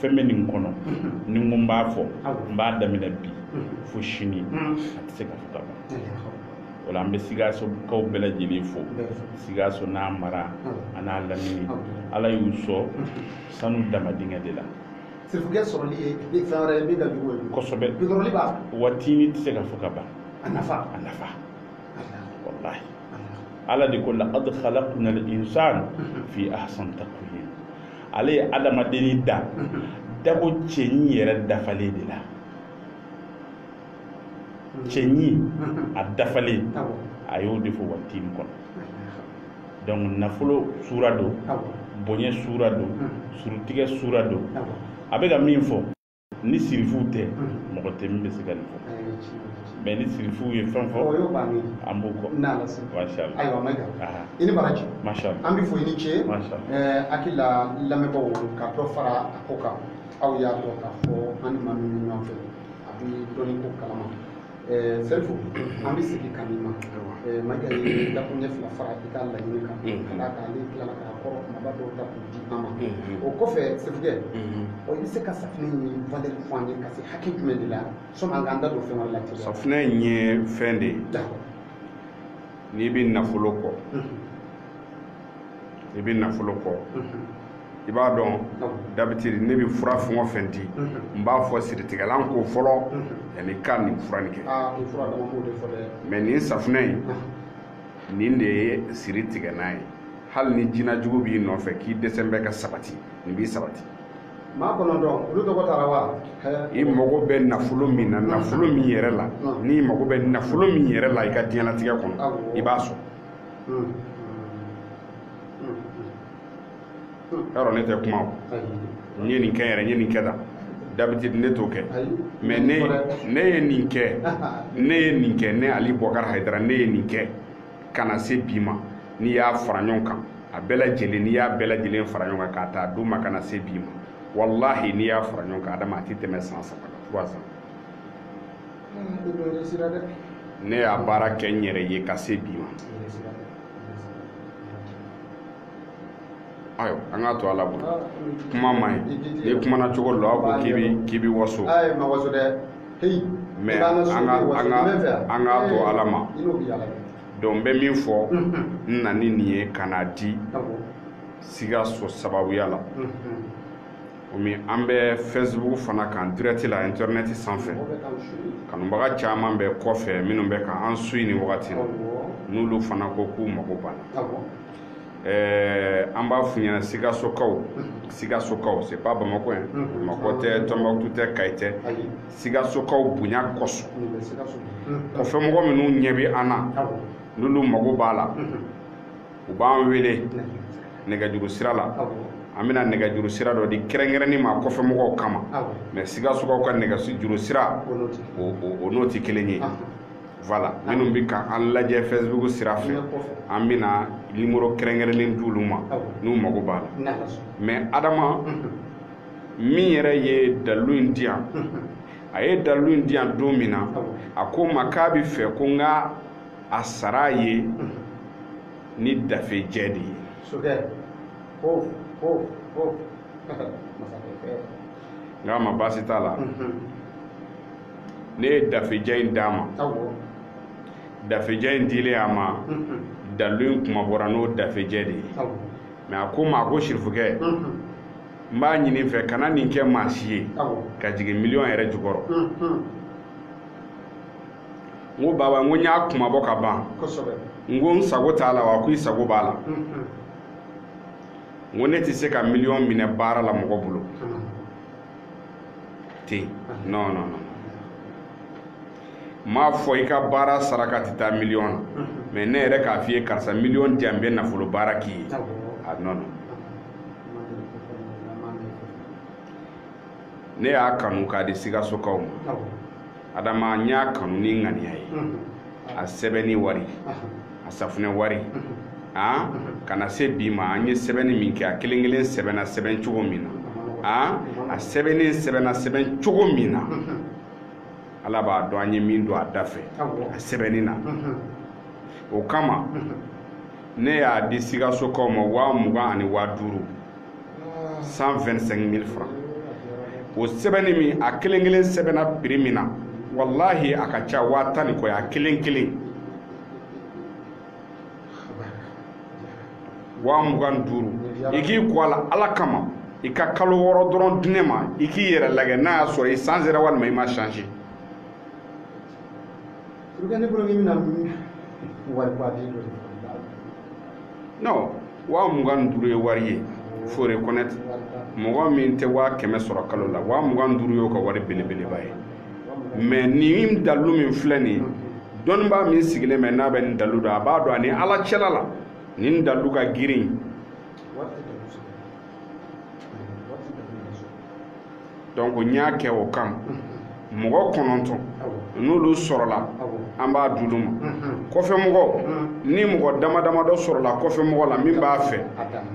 fɛn min bɛ nin kɔnɔ ni n ko n b'a fɔ n b'a daminɛ bi fo sini a tɛ se ka fɔ ka ban o la an bɛ sikasokaw bɛɛ lajɛlen fo sikaso n'a mara an'a lamini ala y'u sɔn sanu dama dingɛ de la sirifukɛ sɔrɔli ye fɛn wɛrɛ ye min ka jugu ye kosɛbɛ bidɔrɔli b'a watini tɛ se ka fɔ ka ban a nafa a nafa walahi ala de ko laqad khalaqna al insana fi ahsan taqwim ale ye adamadenni da dako cɛɲi yɛrɛ dafalen de la cɛɲi a dafalen a y'o de fɔ watini kɔnɔ donc nafolo sura don bonya sura don surutigɛ sura don a bɛ ka min fɔ ni sirifuw tɛ mɔgɔ tɛ min bɛ se ka nin fɔ mɛ ni sirifuw ye fɛn fɔ an b'u kɔ ayiwa mayiga i ni baraji an b'i fo i ni ce hakili la lamɛnbaaw ka dɔ fara a ko kan aw y'a dɔn k'a fɔ an ni maa min ɲɔgɔn fɛ a bɛ dɔnni ko kalama sirifu an bɛ segin ka n'i ma mayiga ye dakun ɲɛ fila fara i ka laɲini kan ka d'a kan ale tilala k'a kɔrɔ kumaba dɔw ta k'u di an ma o kɔfɛ sirifukɛ ɔ i bɛ se ka safinɛ nin valɛri fɔ an ye ka se hakɛ jumɛn de la sɔni an k'an da don fɛn wɛrɛ la teliya safinɛ in ye fɛn de ye n'i bɛ nafolo kɔ i bɛ nafolo kɔ i b'a dɔn d'habitude ne bɛ fura fɛn o fɛn di n b'a fɔ siritigɛlan ko fɔlɔ yanni i ka nin fura nin kɛ mɛ nin safunɛ in nin de ye siritigɛnan ye hali ni jinajugu b'i nɔfɛ k'i dɛsɛ bɛ ka sabati nin b'i sabati maa kɔnɔntɔn olu tɔgɔ taara wa i mago bɛ nafolo min na nafolo min yɛrɛ la n'i mago bɛ nafolo min yɛrɛ la i ka diɲɛlatigɛ kɔnɔ i b'a sɔrɔ yɔrɔ ne tɛ kuma o n ye nin kɛ yɛrɛ n ye nin kɛ tan d'habitude ne t'o kɛ mɛ ne ne ye nin kɛ ne ye nin kɛ ne ali bɔkari hayidara ne ye nin kɛ ka na se bi ma n'i y'a fara ɲɔgɔn kan a bɛɛ lajɛlen n'i y'a bɛɛ lajɛlen fara ɲɔgɔn kan k'a ta duguma ka na se bi ma walahi n'i y'a fara ɲɔgɔn kan adama a tɛ tɛmɛ san saba kan trois ans ne y'a baara kɛ n yɛrɛ ye ka se bi ma ayiwa an k'a to ala bolo kuma man ɲi n'i kumana cogo dɔ a ko k'i b'i k'i b'i waso mɛ an ka an ka an k'a to ala ma donc n bɛ min fɔ n na ni nin ye ka n'a di sikaso sababuya la komi an bɛ facebook fana kan dirɛti la internet sanfɛ kanubaga caman bɛ kɔfɛ minnu bɛ ka an suivi nin wagati la n'olu fana ko k'u mago b'a la eh, an b'a f'u ɲɛna sikasokaw sikasokaw c'est pas bamakɔ yan bamakɔ tɛ tɔnbaktu tɛ kayi tɛ sikasokaw bonya kɔsɔn kɔfɛmɔgɔ minnu ɲɛ bɛ an na n'olu mago b'a la u b'an wele nɛgɛjuru sira la an bɛna nɛgɛjuru sira dɔ di kɛrɛnkɛrɛnni ma kɔfɛ mɔgɔw kama mɛ sikasokaw ka nɛgɛjuru sira o n'o tɛ kelen ye voilà minnu bɛ ka an lajɛ facebook sira fɛ an bɛna nimoro kɛrɛnkɛrɛnnen di olu ma n'u mago b'a la mɛ adama min yɛrɛ ye dalilu in di yan a ye dalilu in di yan don min na a ko n ma k'a b'a fɛ ko n ka a sara a ye ni dafejɛ de ye sokɛ ko ko ko masakɛ n k'a ma baasi t'a la ne ye dafejɛ in d'a ma awɔ dafejɛ in dilen a ma dalilu in kunmabɔra n'o dafejɛ de ye awɔ mɛ a ko n ma a ko sirifukɛ n b'a ɲini i fɛ kana nin kɛ maa si ye awɔ ka jigin miliyɔn yɛrɛ jukɔrɔ n ko baba n ko n y'a kunmabɔ ka ban n ko n sago t'a la wa ko i sago b'a la n ko ne tɛ se ka miliyɔn minɛ baara la mɔgɔ bolo ten non non non n m'a fɔ i ka baara saraka tɛ taa miliyɔn na mɛ ne yɛrɛ k'a f'i ye karisa miliyɔn di yan n bɛ nafolo baara k'i ye a non non ne y'a kanu k'a di sikasokaw ma adama n y'a kanu ni ŋaniya ye a sɛbɛnni wari a safunɛ wari an ka na se bi ma an ye sɛbɛnni min kɛ a kelen kelen sɛbɛnna sɛbɛn cogo min na a a sɛbɛnnen sɛbɛnna sɛbɛn cogo min na ala b'a dɔn an ye min don a da fɛ a sɛbɛnni na o kama ne y'a di sikasokaw ma waa mugan ani waa duuru 125 mille francs o sɛbɛnni min a kelen kelen sɛbɛnna prix min na walahi a ka ca waa tan ni kɔ ye a kelen kelen waa mugan duuru i k'i ko a la ala kama i ka kalo wɔɔrɔ dɔrɔn di ne ma i k'i yɛrɛ lagɛ n'a y'a sɔrɔ i changera walima i ma change Pourquoi ne bolo k'i bɛna wari ba di dɔ non waa mugan ni duuru ye wari ye faut reconnaître mɔgɔ min tɛ waa kɛmɛ sɔrɔ kalo la waa mugan ni duuru y'o ka wari belebeleba ye mais nin dalilu min filɛ nin ye dɔnnibaa min sigilen bɛ n'a bɛ nin dalilu dɔn a b'a dɔn a ni ala cɛla la nin dalilu ka girin donc n y'a kɛ o kan mɔgɔ kɔnɔntɔn n'olu sɔrɔla an b'a d'olu ma kɔfɛmɔgɔ ni mɔgɔ dama dama dɔ sɔrɔla kɔfɛmɔgɔ la min b'a fɛ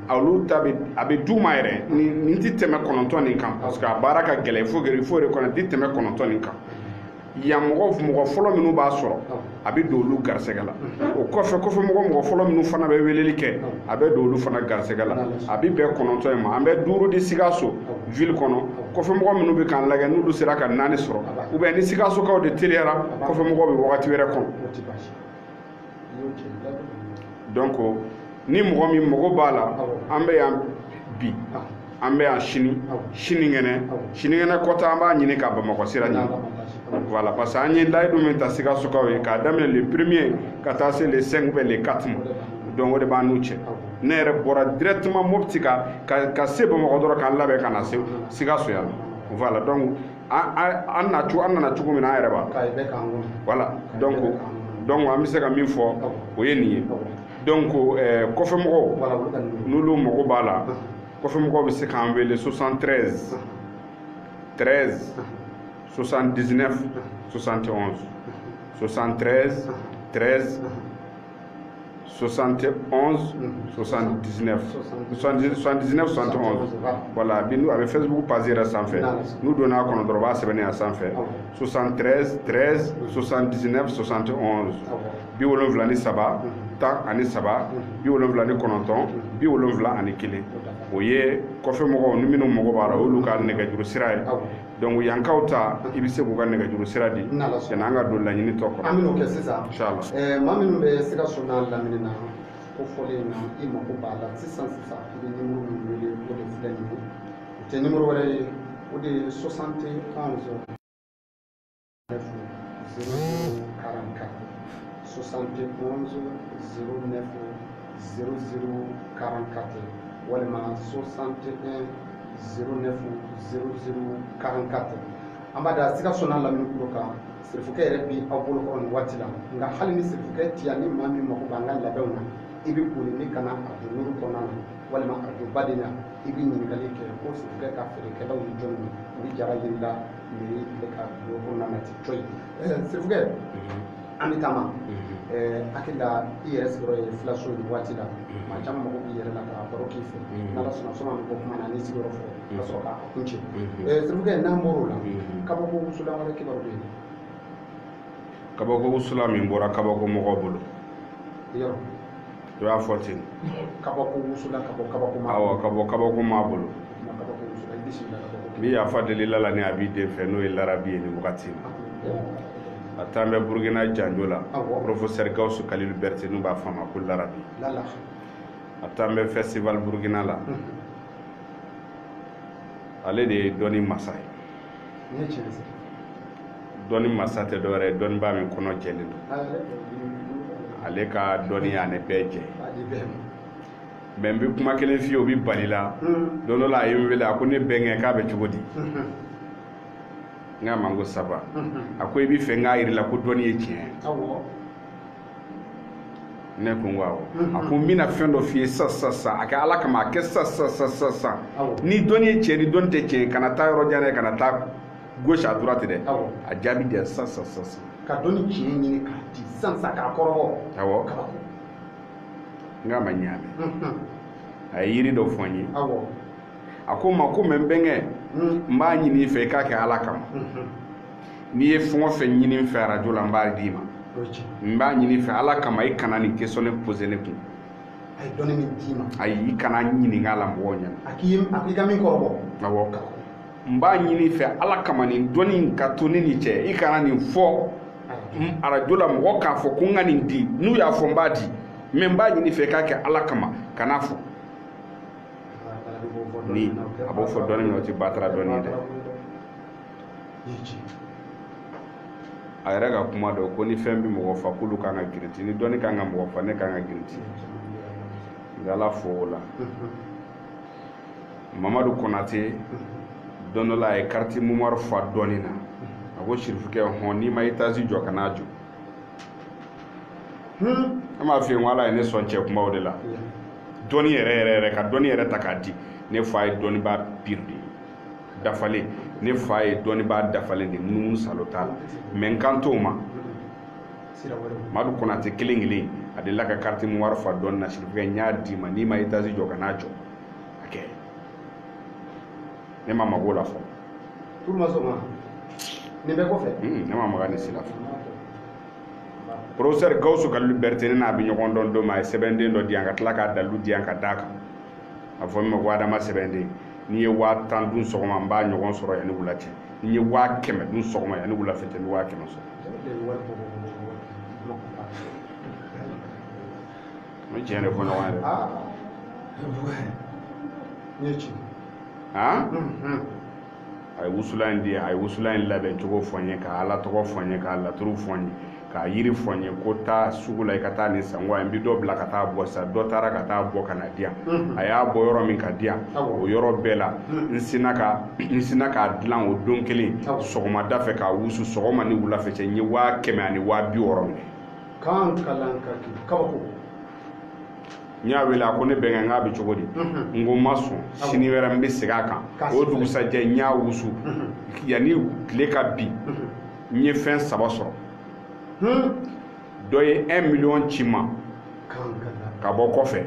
olu ta a bɛ d'u ma yɛrɛ nin tɛ tɛmɛ kɔnɔntɔn nin kan parce que a baara ka gɛlɛn il faut reconnaître tɛ tɛmɛ kɔnɔntɔn nin kan yan mɔgɔ mɔgɔ fɔlɔ minnu b'a sɔrɔ a bɛ don olu garisɛgɛ la o kɔfɛ kɔfɛ mɔgɔ mɔgɔ fɔlɔ minnu fana bɛ weleli kɛ a bɛ don olu fana garisɛgɛ la a bɛ bɛn kɔnɔntɔn in ma an bɛ duuru di sikaso ville kɔnɔ kɔfɛ mɔgɔ minnu bɛ k'an lagɛ n'olu sera ka naani sɔrɔ ou bien ni sikasokaw de teliyara kɔfɛ mɔgɔw bɛ wagati wɛrɛ kɔnɔ donc ni mɔgɔ min mago b'a la an bɛ yan bi an bɛ yan sini sinikɛnɛ sinikɛnɛ kɔta an b'a ɲini ka bamakɔ sira ɲini voilà parce que an ye layidu min ta sikasokaw ye k'a daminɛ le premier ka taa se le 5 ou bien le 4 ma donc o de b'an n'u cɛ ne yɛrɛ bɔra directement mopti ka se bamakɔ dɔrɔn k'an labɛn ka na se sikaso yan voilà donc an na cogo an nana cogo min na an yɛrɛ b'a voilà donc donc an bɛ se ka min fɔ o ye nin ye donc eh, kɔfɛ mɔgɔw n'olu mago b'a la kɔfɛ mɔgɔw bɛ se k'an wele 73 13 79 71 73 13 71 79 71 voilà a bɛ facebook page yɛrɛ sanfɛ n'u donna a kɔnɔ dɔrɔn u b'a sɛbɛnnen y'a sanfɛ 73 13 79 71 bi wolonwula ni saba tan ani saba bi wolonwula ni kɔnɔntɔn bi wolonwula ani kelen o ye kɔfɛ mɔgɔw ni minnu mago b'a la o y'olu ka nɛgɛjuru sira ye donc yankaw ta i bɛ se k'u ka nɛgɛjuru sira di yanni an ka don laɲini tɔ kɔnɔ an bɛn'o kɛ sisan eh, maa minnu bɛ sikaso n'a lamini na ko fɔlen in na i mako b'a la sisan sisan i bɛ nimoro min wele o de filɛ nin ye o tɛ nimoro wɛrɛ ye o de ye 71 walima 61 09 00 44 an b'a da sikaso n'a lamini kulo kan sirifukɛ yɛrɛ bi aw bolo kɔrɔ nin waati la nka hali ni sirifukɛ ti yan ni maa min mako b'an ka labɛnw na i bɛ boli ni ka na arajo nuru kɔnɔna na walima arajo baden na i bɛ ɲininkali kɛ ko sirifukɛ ka feerekɛlaw ni jɔn ye u bɛ jara yir'i la sirifukɛ an bɛ taama hakili la i yɛrɛ sigiyɔrɔ ye filaso nin waati la maa caman mago b'i yɛrɛ la ka baro k'i fɛ n'ala sɔnna sɔnni an bɛ bɔ kuma na n'i sigiyɔrɔ fɔ ka sɔrɔ k'a kuncɛ sirifukɛ n'an bɔr'o la kabako wusulan wɛrɛ kibaru bɛ yen kabako wusulan min bɔra kabako mɔgɔw bolo yɔrɔ to y'a fɔ ten kabako wusulan ka bɔ kabako maa awɔ ka bɔ kabako maa bolo bi yafa deli lala ni a b'i den fɛ n'o ye larabi ye ni wagati na a taan bɛ burukina janjo la professeur gawusu kalilu berete n'u b'a fɔ a ma ko larabi a taan bɛ festival burukina la ale de ye dɔnni masa ye dɔnni masa tɛ dɔwɛrɛ ye dɔnnibaa min kɔnɔ jɛlen don ale ka dɔnni y'an bɛɛ jɛ mais n bɛ kuma kelen f'i ye o bɛ bal'i la hmm. don dɔ la a ye n wele a ko ne bɛnkɛ k'a bɛ cogo di hmm. n k'a ma n ko ça va hmm. a ko i bɛ fɛ n k'a jira i la ko dɔnni ye tiɲɛ ye ne ko n ko awɔ a ko n bɛna fɛn dɔ f'i ye sisan sisan sisan a kɛ ala kama a kɛ sisan sisan sisan sisan ni dɔnni ye tiɲɛ ni dɔnni tɛ tiɲɛ kana taa yɔrɔ jan dɛ kana taa gauche à droite dɛ awɔ a jaabi di yan sisan sisan sisan sisan ka dɔnni tiɲɛ ɲini k'a di sisan sisan k'a kɔrɔbɔ awɔ kabako n k'a ma n y'a mɛn unhun, a ye yiri dɔ fɔ n ye awɔ a ko n ma ko mais n bɛnkɛ un, n b'a ɲini i fɛ i k'a kɛ ala kama unhun, n'i ye fɛn o fɛn ɲini n fɛ arajo la n b'a d'i ma o ye tiɲɛ n b'a ɲini i fɛ ala kama i kana nin question in poser ne kun a ye dɔnni min d'i ma ayi i kana n ɲininka a la mɔgɔw ɲɛna a k'i ye a k'i ka min kɔrɔbɔ awɔ kabako n b'a ɲini i fɛ ala kama nin dɔnni ka to ne n'i cɛ i kana nin fɔ arajo la mɔgɔ k'a fɔ ko n ka nin di n'u y'a fɔ n b'a di mais n b'a ɲini i fɛ k'a kɛ ala kama kan'a fɔ ni a b'o fɔ dɔnni na o ti batara dɔnni ye dɛ a yɛrɛ ka kuma dɔ ko ni fɛn bɛ mɔgɔ fa k'olu kan ka girinti ni dɔnni kan ka mɔgɔ fa ne kan ka girinti n bɛ ala fo o la mamadu konate don dɔ la a ye carte mémoire fa dɔnni na a ko sirifukɛ hɔn n'i ma etazi jɔ ka n'a jɔ hmm. an b'a f'i ye ko ala ye ne sɔn cɛ kunbaw de la dɔnni yɛrɛ yɛrɛ yɛrɛ ka dɔnni yɛrɛ ta k'a di ne fa ye dɔnnibaa pur de ye dafalen ne fa ye dɔnnibaa dafalen de ye munumunu salo t'a la mais n kan t'o ma madu konate kelen kelen a delila ka kariti memuwari fa dɔɔni na sirifukɛ n y'a d'i ma n'i ma etazi jɔ ka n'a jɔ a kɛ ne ma mag'o la fɔ tulu ma sɔn nin bɛɛ kɔfɛ hmm, ne ma maga nin si la fɔ professeur gawusu kalilu berete ne n'a bɛ ɲɔgɔn dɔn don min a ye sɛbɛnden dɔ di yan ka tila k'a dalilu di yan ka d'a kan a fɔ min ma ko adama sɛbɛnden n'i ye waa tan dun sɔgɔma n b'a ɲɔgɔn sɔrɔ yanni wula cɛ n'i ye waa kɛmɛ dun sɔgɔma yanni wula fɛ cɛ n bɛ waa kɛmɛ sɔrɔ an bɛ tiɲɛ de fɔ ɲɔgɔn ye dɛ aa n ye ci han a ye wusulan in di yan a ye wusulan in labɛn cogo fɔ n ye ka ala tɔgɔ fɔ n ye k'a laturu fɔ n ye k'a yiri fɔ n ye ko taa sugu la i ka taa nin san ko a ye n bɛ dɔ bila ka taa bɔ sisan dɔ taara ka taa bɔ ka na di yan a y'a bɔ yɔrɔ min ka di yan Awɔ. o yɔrɔ bɛɛ la n sinna ka n sinna k'a dilan o don kelen sɔgɔmada fɛ k'a wusu sɔgɔma ni wula fɛ cɛ n ye waa kɛmɛ ani waa bi wɔɔrɔ minɛ kan kalan ka kɛ kabako n y'a wele a ko ne bɛnkɛ k'a bɛ cogo di mhm. n ko n ma sɔn sini wɛrɛ n bɛ segin a kan o dugusajɛ n y'a wusu mhm. yanni tile ka bin mhm. n ye fɛn saba sɔrɔ hmm? dɔ ye 1 miliyɔn ci n ma ka bɔ kɔfɛ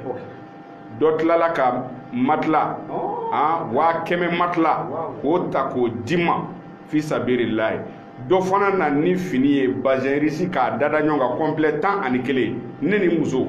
dɔ tilala ka matila oh. ah, waa kɛmɛ matila k'o ta k'o di n ma fi sabirilayi dɔ fana na ni fini ye bazɛn risi k'a dada ɲɔgɔn kan kɔnpilɛ tan ani kelen ne ni muso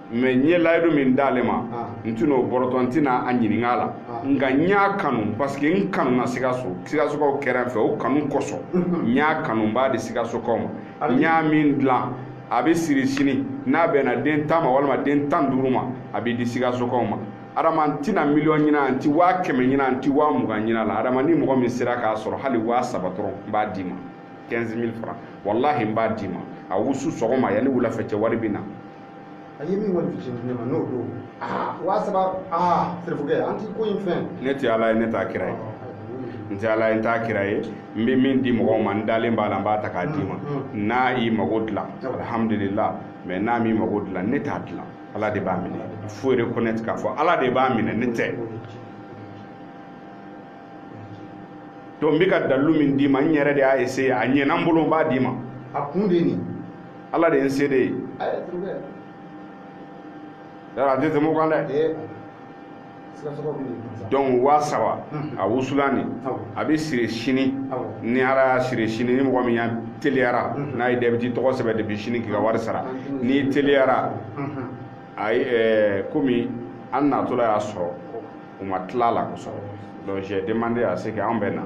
mɛ n ye layidu min d'ale ma ah. n tɛna o bɔrɔtɔ n tɛna a ɲininka a la ah. nka n y'a kanu parce que n kanuna sikaso sikasokaw kɛra n fɛ o kanu kosɔn mhm. n y'a kanu n b'a di sikasokaw ma n y'a min dilan a bɛ siri sini n'a bɛnna den tan ma walima den tan duuru ma a bɛ di sikasokaw ma adama n tɛna miliyɔn ɲini n ti waa kɛmɛ ɲini n ti waa mugan ɲin'a la adama ni mɔgɔ min sera k'a sɔrɔ hali waa saba dɔrɔn n b'a d'i ma 15 000 francs walahi n b'a d'i ma a wusu sɔgɔma yanni wulafɛ cɛ wari bɛ na a ye min kɔni fitini di ne ma n'o don aa waa saba aa serifukɛ an ti ko in fɛn ne tɛ ala ye ne t'a kira ye n tɛ ala ye n t'a kira ye n bɛ min di mɔgɔw ma n dalen b'a la n b'a ta k'a d'i ma n'a y'i mago dilan alhamdulila mɛ n'a m'i mago dilan ne t'a dilan ala de b'a minɛ faut reconnaître k'a fɔ ala de b'a minɛ ne tɛ donc n bɛ ka dalilu min d'i ma n yɛrɛ de y'a essayer a ɲɛna n bolo n b'a d'i ma a kun de ye nin ala de ye n seere ye a tɛ tɛmɛ o kan dɛ donc waa saba a wusulan nin a bɛ siri sini ni ala y'a siri sini ni mɔgɔ min ya teliyara n'a ye dɛbiti tɔgɔ sɛbɛn depuis sini k'i ka wari sara n'i teliyara a ye komi an natɔla y'a sɔrɔ u ma tila la kosɔn donc j'ai demandé à ce que anw bɛ na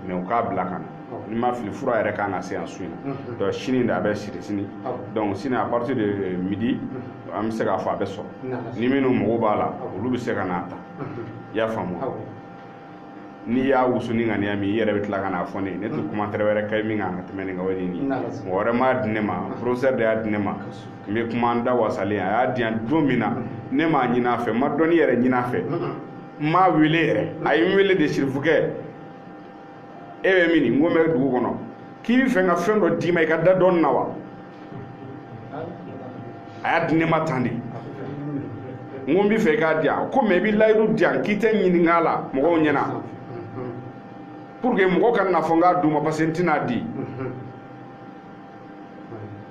mais u k'a bila ka na ni n ma fili fura yɛrɛ kan ka se yan su in na donc sini de a bɛ siri sini donc sini à partir de euh, midi an bɛ se k'a fɔ a bɛ sɔrɔ ni minnu mago b'a la olu bɛ se ka n'a ta i y'a faamu n'i y'a wusu ni ŋaniya min i yɛrɛ bɛ tila ka n'a fɔ ne ye ne tɛ commentaire wɛrɛ kɛ min kan ka tɛmɛ nin kan o ye nin ye mɔgɔ wɛrɛ m'a di ne ma professeur de y'a di ne ma n bɛ kuma n da wasalen a y'a di yan don min na ne m'a ɲini a fɛ n ma dɔnni yɛrɛ ɲini a fɛ n m'a wele yɛrɛ a ye n wele de sirifukɛ e bɛ min n ko n bɛ dugu kɔnɔ k'i bɛ fɛ n ka fɛn dɔ d'i ma i ka da dɔɔni na wa a y'a di ne ma tan de n ko n bɛ fɛ i k'a di yan ko mais i bɛ layidu di yan k'i tɛ ɲininka a la mɔgɔw ɲɛna pour que mɔgɔ kana fɔ n k'a d'u ma parce que n tɛna a di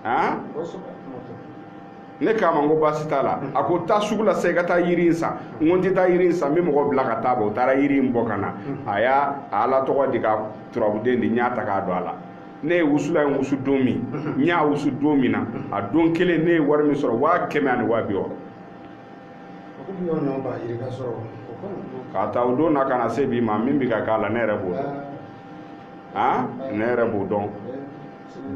han ne k'a ma n ko baasi t'a la a ko taa sugu la sa i ka taa yiri in san n ko n tɛ taa yiri in san n bɛ mɔgɔ bila ka taa bɔ o taara yiri in bɔ ka na a y'a a ala tɔgɔ di ka turabuden di n y'a ta k'a don a la ne ye wusulan in wusu don min n y'a wusu don min na a don kelen ne ye wari min sɔrɔ waa kɛmɛ ani waa bi wɔɔrɔ k'a ta o don na ka na se bi ma min bɛ ka k'a la ne yɛrɛ b'o dɔn aa ne yɛrɛ b'o dɔn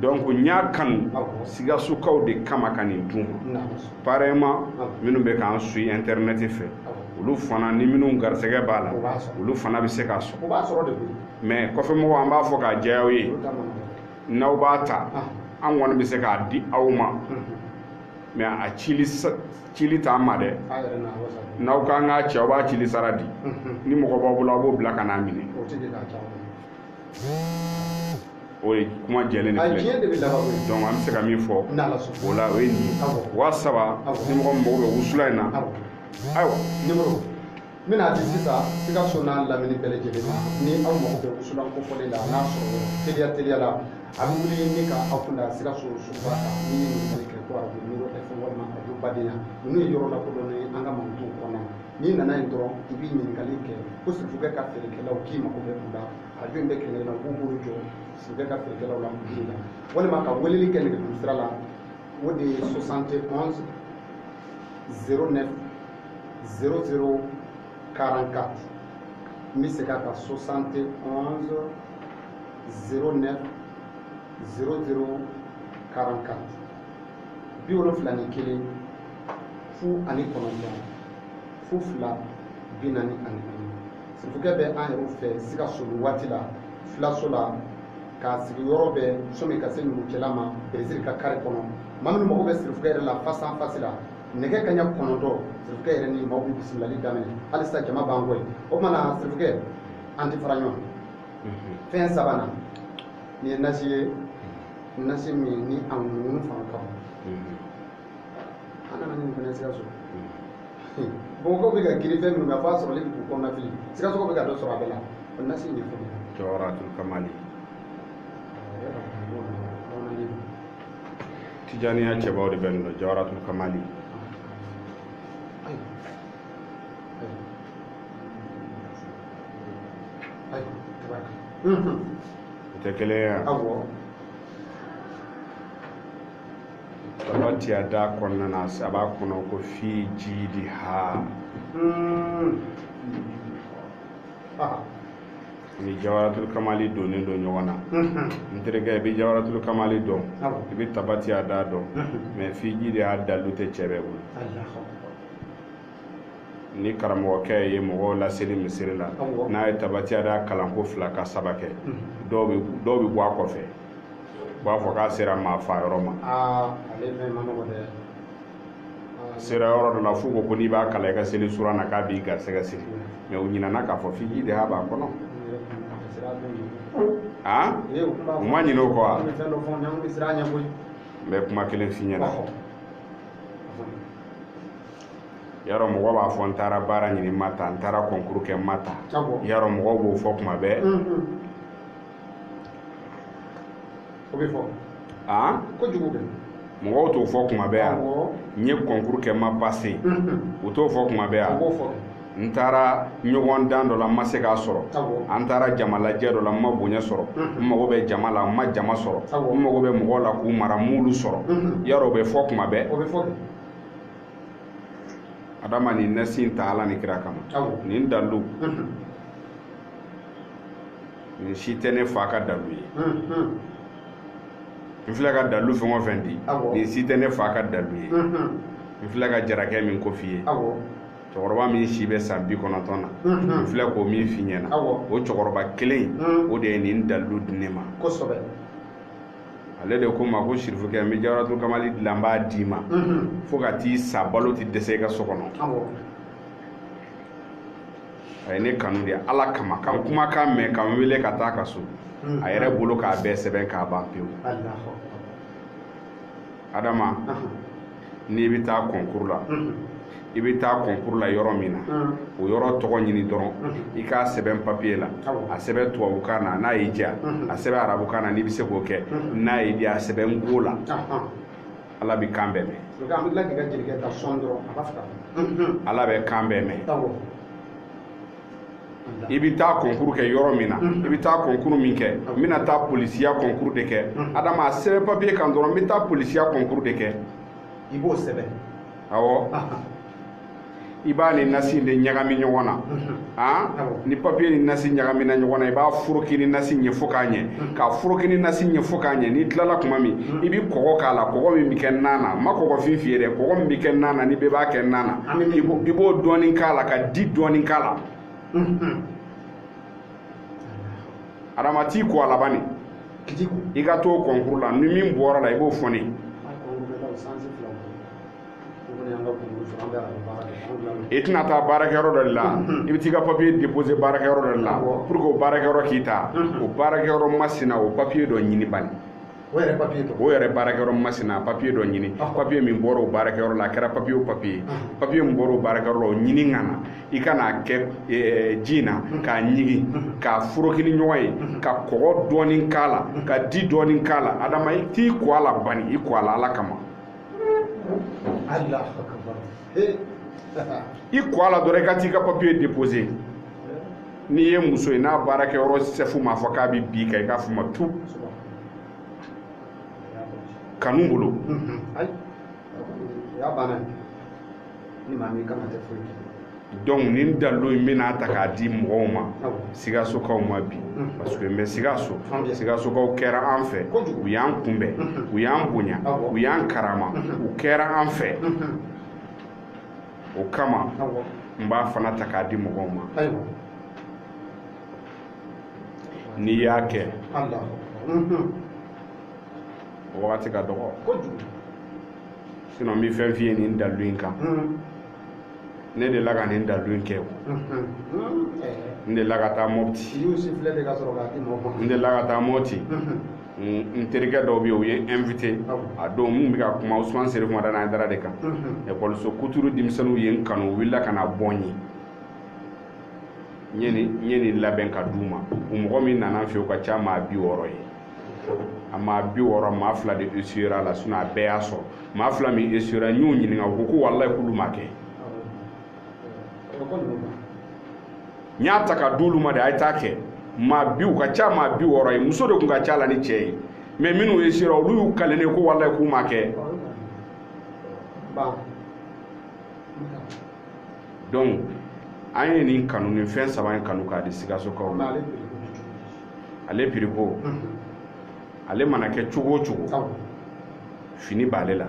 donc n y'a kanu sikasokaw de kama ka nin d'u ma pareillement minnu bɛ k'an suit internet fɛ olu fana ni minnu garisɛgɛ b'a la olu fana bɛ se k'a sɔrɔ mais kɔfɛmɔgɔw an b'a fɔ k'a jɛya aw ye n'aw b'a ta an kɔni bɛ se k'a di aw ma mais a cili cili t'an ma dɛ n'aw k'an k'a ci aw b'a cili sara di ni mɔgɔ b'aw bolo aw b'o bila ka n'a minɛ o ye kuma jɛlen de filɛ donc an bɛ se ka min fɔ o la o ye nin ye waa saba ni mɔgɔ min mago bɛ wusulan in na ayiwa n bɛna di sisan sikaso n'a lamini bɛɛ lajɛlen ma ni aw mago bɛ wusulan kofɔlen la n'a sɔrɔ teliya teliya la a bɛ wuli ni ka aw kun da sikaso suguba kan n'i ye ɲininkali kɛ ko arajo niro fm walima arajo badenya ninnu ye yɔrɔ lakodɔnnen ye an ka mankutuw kɔnɔ n'i nana yen dɔrɔn i bɛ ɲininkali kɛ ko sirifukɛ ka feerekɛlaw k'i mago bɛ u la arajo in bɛ kɛlɛ na k'u bolo jɔ sirifukɛ ka feerekɛlaw la mali la walima ka weleli kɛ nɛgɛjuru sira la o de ye 71 09 00 44 n bɛ segin a kan 71 09 00 44 bi wolonfila ni kelen fu ani kɔnɔntɔn fu fila bi naani ani naani sirifukɛ bɛ an yɛrɛw fɛ sikaso nin waati la filaso la k'a sigiyɔrɔ bɛ sɔmi ka se numukɛla ma bereziri ka kare kɔnɔ maa minnu mago bɛ sirifukɛ yɛrɛ la face à face la nɛgɛ kaɲa kɔnɔntɔn sirifukɛ yɛrɛ ni maaw bɛ bisimilali daminɛ halisa jama b'an kɔ yen o tuma na sirifukɛ an tɛ fara ɲɔgɔn fɛn sabanan nin ye nasi ye nasi min ni a ŋunu fanga ka bon an nana nin fana sikaso bamakɔkaw bɛ ka girin fɛn minnu kan f'a sɔrɔli bɛ k'u kɔnɔnafili sikaso bɛ ka dɔ sɔrɔ a bɛɛ la o nasi in ye fɛn ye jawaratul kamali tijaniya cɛbaw de bɛ nin dɔn jawaratul kamali o tɛ kelen ye yan tabati yada kɔnɔna na a b'a kɔnɔ ko fi jidiha ni jawaratul kamali donnen don ɲɔgɔn na n terikɛ i bɛ jawaratul kamali dɔn i bɛ tabati yada dɔn mɛ fi jidiha dalu tɛ cɛ bɛɛ bolo ni karamɔgɔkɛ ye mɔgɔw laseli misiri la n'a ye tabati yada kalan ko fila ka saba kɛ dɔw bɛ bɔ a kɔfɛ u b'a fɔ k'a sera maa fa yɔrɔ ma sera yɔrɔ dɔ la f'u ko ko n'i b'a kalan i ka seli sura na k'a b'i garisɛgɛ siri mɛ u ɲinɛna k'a fɔ fi jidiha b'a kɔnɔ a u ma ɲinɛ o kɔ wa n bɛ kuma kelen f'i ɲɛna yarɔ mɔgɔ b'a fɔ n taara baara ɲini n ma ta n taara kɔnkuru kɛ n ma ta yarɔ mɔgɔw b'o fɔ kuma bɛɛ o bɛ fɔ aa kojugu kɛ mɔgɔw t'o fɔ kuma bɛɛ yan n ye kɔnkuru kɛ n ma pase u t'o fɔ kuma bɛɛ yan n taara ɲɔgɔndan dɔ la n ma se k'a sɔrɔ an taara jamalajɛ dɔ la n ma bonya sɔrɔ n mago bɛ jama la n ma jama sɔrɔ n mago bɛ mɔgɔw la k'u mara n m'olu sɔrɔ yarɔ o bɛ fɔ kuma bɛɛ adama nin nasi in ta ala ni kira kama nin dalilu nin si tɛ ne fa ka dalu ye n filɛ ka dalu fɛn o fɛn di nin si tɛ ne fa ka dalu ye n filɛ ka jarakɛ min ko f'i ye cɛkɔrɔba min si bɛ san bi kɔnɔntɔn na n filɛ k'o min f'i ɲɛna o cɛkɔrɔba kelen o de ye nin dalu di ne ma ale de ko n ma ko sirifukɛ n bɛ jawaratul kamali dilan n b'a d'i ma fo ka t'i sa balo tɛ dɛsɛ i ka so kɔnɔ a ye ne kanu de ala kama ka n kumakan mɛn ka n wele ka taa a ka so hmm. a yɛrɛ bolo k'a bɛɛ sɛbɛn k'a ban pewu adama n'i bɛ taa kɔnkuru la hmm. i bɛ taa kɔnkuru la yɔrɔ min na hmm. o yɔrɔ tɔgɔ ɲini dɔrɔn i k'a sɛbɛn papiye la a sɛbɛn tubabukan na n'a y'i diya a sɛbɛn arabukan na n'i bɛ se k'o kɛ n'a y'i diya a sɛbɛn nko la ala bɛ kan bɛɛ mɛn ala bɛ kan bɛɛ mɛn i bɛ taa kɔnkuru kɛ yɔrɔ min na i bɛ taa kɔnkuru min kɛ n bɛna taa polisiya kɔnkuru de kɛ adama a sɛbɛn papiye kan dɔrɔn n bɛ taa polisiya kɔnkuru de kɛ i b'o sɛbɛn awɔ i b'a ni nasi de ɲagami ɲɔgɔn na han ni papiye ni nasi ɲagamina ɲɔgɔn na i b'a foroki ni nasi ɲɛ fo k'a ɲɛ k'a foroki ni nasi ɲɛ fo k'a ɲɛ n'i tilala kuma min i bɛ kɔgɔ k'a la kɔgɔ min bɛ kɛ nan na n ma kɔgɔfin f'i ye dɛ kɔgɔ min bɛ kɛ nan na ni bɛɛ b'a kɛ nan na i b'o dɔɔnin k'a la ka di dɔɔnin k'a la adama t'i ko a la bani i ka t'o kɔnkuru la ni min bɔra la i b'o fɔ ne ye i tɛna taa baarakɛyɔrɔ dɔ de la i bɛ t'i ka papiye depose baarakɛyɔrɔ dɔ de la pour que o baarakɛyɔrɔ k'i ta o baarakɛyɔrɔ masina o papiye dɔ ɲini bani o yɛrɛ baarakɛyɔrɔ masina papiye dɔ ɲini papiye min bɔra o baarakɛyɔrɔ la a kɛra papiye o papiye papiye min bɔra o baarakɛyɔrɔ la o ɲini ka na i ka n'a kɛ ji in na k'a ɲigi k'a foroki ni ɲɔgɔn ye ka kɔgɔ dɔɔni k'a la ka di dɔɔni k'a la adama i t'i ko a la bani i ko a la ala kama Allah akbar eh. i ko a la dɔrɔn i ka t'i ka papiye déposé n'i ye muso ye n'a baarakɛyɔrɔ sɛfu m'a fɔ k'a bɛ bin i kan i k'a fɔ ma tu kanu bolo donc nin dalilu in bɛna ta k'a di mɔgɔw ma sigasokaw ma bi parce que n bɛ sigaso sigasokaw kɛra an fɛ u y'an kunbɛn u y'an bonya u y'an karama u kɛra an fɛ o kama n b'a fana ta k'a di mɔgɔw ma n'i y'a kɛ o wagati ka dɔgɔ sinɔn n bɛ fɛn f'i ye nin dalilu in kan ne de la ka nin dalilu in kɛ n de la ka taa mɔpti n de la ka taa mɔpti n terikɛ dɔw bɛ yen u ye n invité a don min n bɛ ka kuma Ousmane Serif Madani Hayidara de kan ekɔliso kuturu denmisɛnninw ye n kanu u wulila ka na bɔ n ye n ye nin labɛn ka d'u ma u mɔgɔ min nana n fɛ yen o ka ca maa bi wɔɔrɔ ye a maa bi wɔɔrɔ maa fila de esuyera la sinɔn a bɛɛ y'a sɔrɔ maa fila min esuyera n y'u ɲininka u ko ko walayi k'olu m'a kɛ n y'a ta ka d'olu ma de a ye taa kɛ maa bi u ka ca maa bi wɔɔrɔ ye muso de tun ka ca la ni cɛ ye mɛ minnu esuyera olu y'u kalen n ye ko walayi k'u m'a kɛ donc an ye nin kanu nin fɛn saba in kanu k'a di sikasokaw ma ale piriko ale mana kɛ cogo o cogo fini b'ale la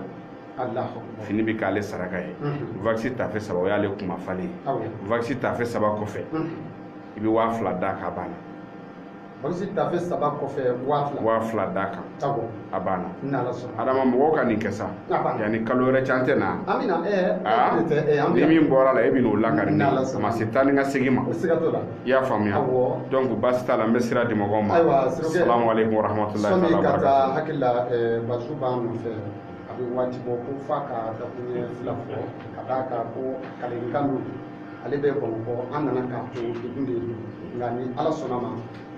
fini bɛ k'ale saraka ye wakisi taafe saba o y'ale kuma falen ye wakisi taafe saba kɔfɛ i bɛ waa fila d'a kan a banna wakisi taafe saba kɔfɛ waa fila d'a kan a banna adama mɔgɔw ka nin kɛ sa yanni kalo wɛrɛ cɛ an tɛ na ni min bɔr'a la e bɛn'o lakari n ye a ma se taa ni ka segin ma i y'a faamuya donc baasi t'a la n bɛ sira di mɔgɔw ma salamu aleykum warahmatulahi taala barakatu hakili la bazu b'an nɔfɛ a bɛ waati bɔ ko f'a ka dakuruɲɛ fila fɔ ka d'a kan ko kalenkan don ale bɛ bamakɔ an nana k'a to degun de ye nka ni ala sɔnna ma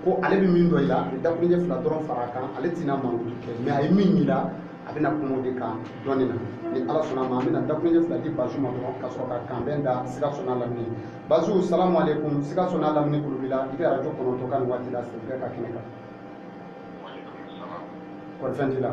ko ale bɛ min dɔn i la a bɛ dakuruɲɛ fila dɔrɔn fara a kan ale tɛna mankutu kɛ mais a ye min y'i la a bɛna kuma o de kan dɔɔnin na ni ala sɔnna a ma an bɛna dakuruɲɛ fila di bazu ma dɔrɔn ka sɔrɔ ka kanbɛn da sikaso n'a lamini bazu salamu aleykum sikaso n'a lamini tulo b'i la i bɛ arajo kɔnɔntɔn ka nin waati la sɛbɛn ka kɛnɛ kan kɔri fɛn t'i la.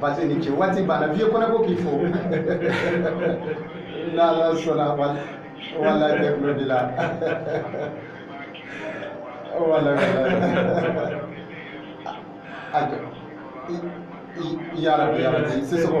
bazu i ni ce waati banna viye kɔnɛ ko k'i fo n'ala sɔnna wala bɛɛ tulo b'i la wala yarabi yarabi sisɔkɔ